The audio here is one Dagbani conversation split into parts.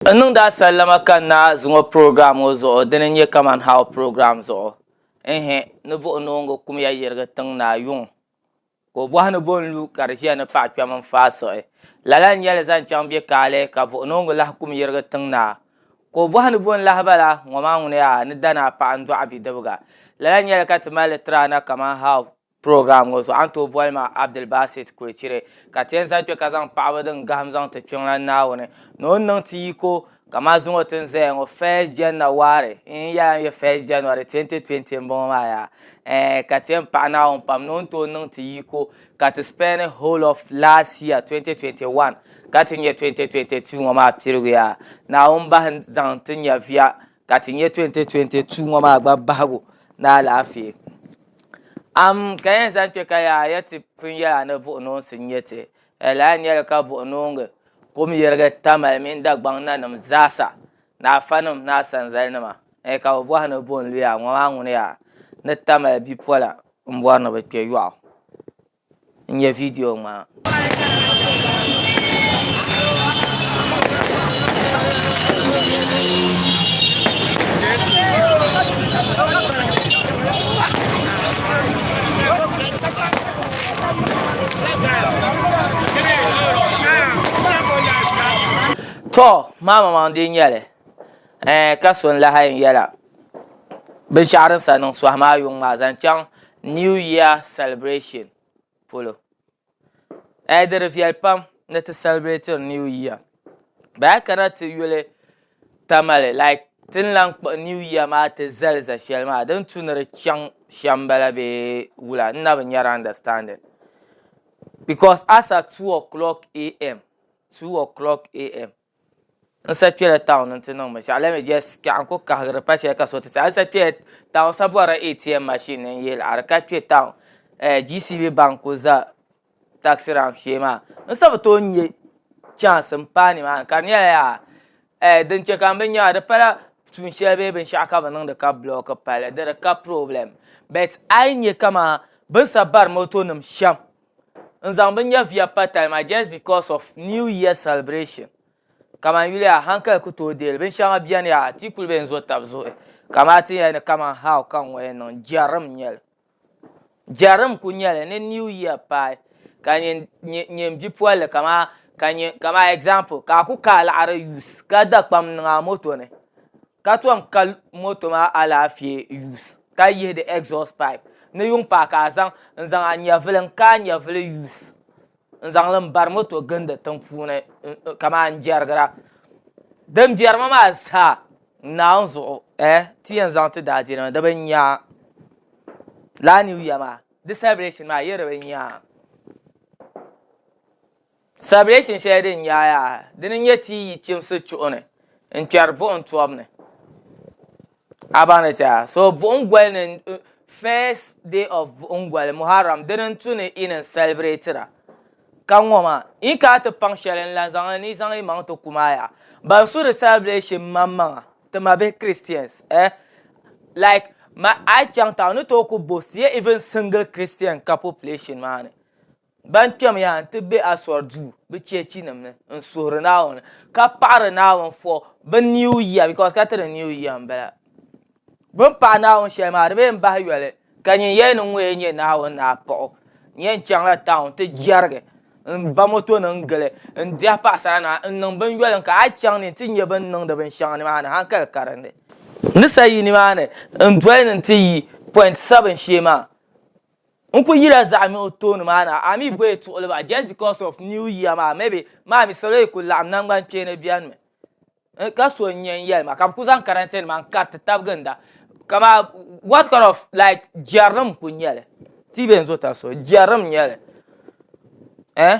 N niŋdi a sallama ka n naai zuŋɔ program ŋɔ zuɣu dini n-nyɛ Kaman How program zuɣu. Ɛɛhɛ, ni buɣinooŋga kumya yirigi tiŋ naa yuŋ, ka o bɔhi ni bɔ n-lu ka di ʒiya ni paɣ kpɛm n-faai siɣi? Lala n-nyɛ li zaŋ chaŋ bɛ kaali ka buɣinooŋga lahi kum yirigi tiŋ naa, ka o bɔhi ni bɔ n-lahi ba la? Ŋɔ maa ŋuni yaa ni dani a paɣa n-dɔɣi bidibiga. Lala n-nyɛ li ka ti mali li tiri a na Kaman How Program ŋɔ zuɣu a ni tooi boli ma Abdulbasit Kwecire ka ti yɛn zali kpe ka zaŋ paɣaba din gahim zaŋ ti Kpiɔŋlan Naawuni ni o ni niŋ ti yiko kaman zuŋɔ ti ni zaya ŋɔ first Janna wari n yɛla n yɛ first January 2020 m-bɔŋɔ maa yaa eh ka ti yɛn paɣi Naawuni pam ni o ni tooi niŋ ti yiko ka ti spend whole of last year 2021 ka ti nya 2022 ŋɔ maa piligu yaa Naawuni bahi zaŋ ti nyaviya ka ti nyɛ 2022 ŋɔ maa gba bahigu ni alaafee am ka yɛn zaŋ kpɛ ka yaa yɛ ti pun yɛla ni buɣunoonsi n nyɛ ti laa nyɛli ka buɣunoongi kum yirigi tamali mini Dagbaŋ nanim zaasa ni afanim ni asanzali nima eh, ka bi bɔhi ni bɔnluya ŋɔ maa ŋuni yaa ni tamali bipola n bɔri ni bi kpɛ yɔɣu N nyɛ vidiyo ŋmaa. To maamaŋ dee nyɛli eh, ka so n lahi yɛn yɛla. binshɛɣu din sa niŋ sɔhi maa yuŋ maa zaŋ chaŋ new year celebration polo ɛɛ di di viɛli pam ni ti sɛlibirɛtiri new year bee a yi kana ti yuli tamale like ti ni lahi kpuɣi new year maa ti zali za shɛli maa din tu ni di chaŋ shɛm m-bala bee wula n na bi nya di understanding because a sa two o clock am. N sa kpela town n ti niŋ binshaɣu let me just kpɛɣu n ku kahigiri pa shɛli ka so ti saha n sa kpela town sa bɔrila ATM machine ni n yihili a di ka kpe town eh, GCB bank ku za taxi rank shee maa n sa bi tooi nya chance n paai ni maa ni ka di nyɛla yaa eh din che ka n bi nyaɣi di pala tuun shɛli bee binshaɣu ka bi niŋdi ka block palli di di ka problem but a yi nya kaman bin sa bari moto nim shɛm. n zaŋ bi nyɛviya pa tali maa just because of new year celebration kaman yuli a hankali ku tooi deei li binshɛŋa beni yaha ti yi kuli be n-zo tab zuɣu ka maa ti yɛli ni kaman how ka n ŋɔ yɛn niŋ jɛrim n-nyɛ li jɛrim n-kuli nyɛ li ni new year paai ka nyin nyin nyin bipolili kaman ka nyin kaman example ka a ku kaai laɣiri use ka da kpam n-niŋ a moto ni ka tom kali moto maa alaafee use ka yihi di exhaust pipe ni yuŋ paai ka a zaŋ n zaŋ a nyɛvuli n kaai nyɛvuli use n zaŋli n bari moto gindi tiŋ puuni kamani n jɛrigira din biɛri mi maa zaa naawuni zuɣu ɛɛh ti yɛn zaŋ ti daadiini maa di bi nya lala new year maa di celebration maa di yɛn bi nya. Sabilesin shɛli din nyaai yaha, dini n-nyɛ ti yi chimsi chuɣu ni n-kpɛri buɣim tɔbu ni. A baŋ li shɛha? So buɣim goli ni first day of buɣim goli, Muharram, dini n-tu ni yi ni n-salibireetira. Ka ŋɔ maa, yi kana ti paŋ shɛli n-lan zaŋ li ni yi zaŋ yi maŋ ti kum a yaha. Ban su di sabilesin maŋmaŋa, ti mabihi Christians eh, like ma a yi chaŋ tauni ni tooi ku boast ye even single Christian ka population maa ni. Ban kpɛmya nti be Asɔr duu bɛ cheechinim ni n-suhiri Naawuni, ka paɣiri Naawuni fɔ bɛ Niu Yia, because ka tiri Niu Yia m-bala. Bɛ ni paɣi Naawuni shɛli maa, di bee m-bahi yoli, ka nyin yɛli ni ŋun yɛn nyɛ Naawuni ni a paɣ o. N yɛn chaŋla town nti jɛrigi, m-ba motonim n-gili, n-diɛhi paɣisaranima, n-niŋ binyoli n-ka hal chaŋ ni nti nya bɛ ni niŋdi binshɛŋa nimaani haŋkali karindi. N ni sa yi nimaani n-doli ni nti yi Point Seven shee maa, N ku yila zaɣimi o tooni maa na, a mi bɔyi tuɣili ba just because of new year maa maybe maa mi salo yi ku laɣim nangban kpeeni beni mi n ka so n nye n yelima ka bi ku zaŋ karante nima n kariti taba ginda ka maa what kind of like jerinim n ku nyeli ti yi be n zo taso jerinim n nyeli eh.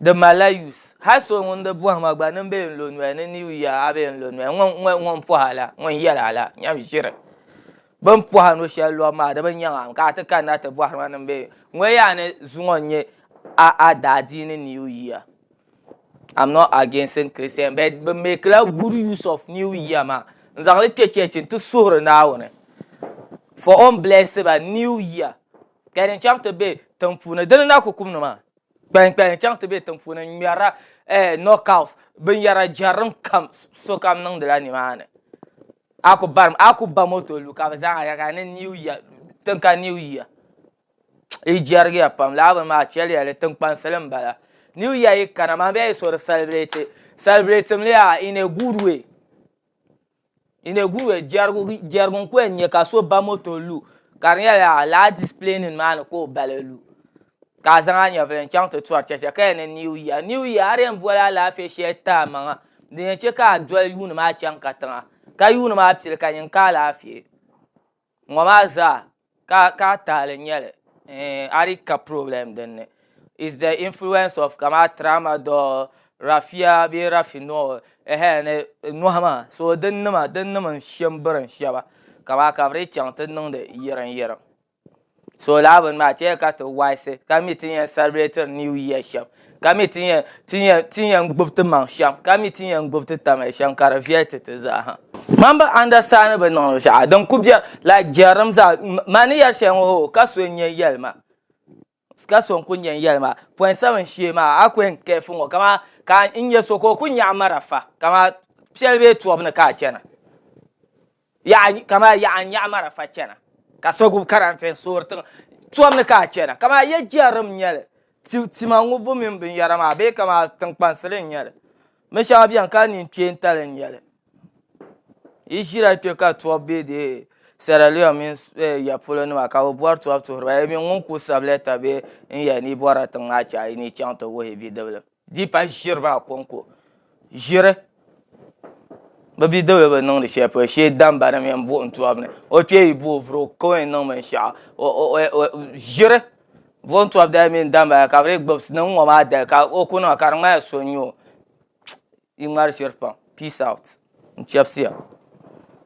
Di malila use. Hal so ŋun di bɔhim a gba nini bee n-lo noya ni ni yuya a bee n-lo noya ŋun ŋun ŋun pɔhi a la ŋun yɛli a la nyam ʒiri bini pɔhi a no shɛli lɔbu maa di bi nyaŋ a ka a ti kanna ti bɔhiri ma nini bee ŋun yaa ni zuŋɔ n-nyɛ a a daadiini new year. Am not against Christian but bɛ make la good use of new year maa n-zaŋ li kpe church nti suhiri Naawuni for o ni bless ba new year. Kpɛli n chaŋ ti be tiŋ puuni dini na ku kum ni maa kpɛli kpɛli n chaŋ ti be tiŋ puuni n ŋmɛrila eh knockout bin yara jɛrim kam sokam niŋdila ni maa ni a ku barim a ku ba moto lu ka bi zaa a yɛli ni new year tin ka new year yi jɛrigiya pam lala bini maa a chɛliya li tiŋ kpaŋsili n bala new year yi kana maa bɛ yaa yi so di celebrate celebrate mi li yaa in a good way. Inegwue jɛrigu jɛrigu n ku yɛn nyɛ ka so ba moto lu ka di nyɛla lala displaying maa ni ka o bala lu ka a zaŋ a nyɛvuli n chaŋ ti tɔri chɛchɛ ka yɛn ni new year new year a di yɛn boli alaafee shɛli ti a maŋa din yɛn chɛ ka a doli yuuni maa chaŋ katiŋa ka yuuni maa pili ka nyin ka alaafee. ŋɔ maa zaa ka ka taali nyɛli a di ka problem din ni is the influence of kama trauma do rafia be rafi no ehe ni nohi maa so din nima din nima n shem birim sheba kama ka bɛ di chaŋ ti niŋdi yirin yirim So lala bini maa chɛya ka ti waisi ka mi ti yɛn salibiretiri niw yia shɛm ka mi ti yɛn gbubi ti maŋ shɛm ka mi ti yɛn gbubi ti tamiya shɛm ka di viɛli ti ti zaa ha mani bi andastandi bi niŋdi binshɛɣu din ku biɛri laik jɛrilim zaa ma ni yɛri shɛli ŋɔ hoo ka so n yɛn yɛli ma ka so n kuli yɛn yɛli ma pɔin sabin shee maa a ku yɛn kɛɛfu ŋɔ kamani ka n nya so ka o ku nyaɣi marafa kamani piɛli bee tɔbu ni ka a chana Yaɣa kamaa yaɣa n nyaɣi marafa chana ka so gbubi karantɛ n soori tiŋa tɔm ni ka a chana kamaa ya jɛrim n nyɛli ti tima ŋɔ bu mini bin yara maa bee kamaa tiŋ kpansili n nyɛli bin shɛŋa bɛni ka nini kpeentali n nyɛli yi ʒira kpɛ ka tɔb bɛ dee Sierra Leone mini ya polo nima ka bi bɔri tɔb tuhiri ba yami ŋun ku sabi lɛta bee n yɛli ni yi bɔra tiŋ maa chɛ a yi ni yi chaŋ ti wuhi bidiblim. Di pa ʒiri maa konko ʒiri bi bidibili bi niŋdi shɛli polo shee damba ni mini buɣum tɔbu ni o kpee yi bo o vuri o ka o yɛn niŋ binshɛɣu ʒiri buɣum tɔbu dali mini damba dali ka bi dii gbubi niŋ ŋɔ maa dali ka o ku niŋ ka di ŋmanila so n nyɛ o di ŋmari ʒiri pam peace out n chɛbisiya.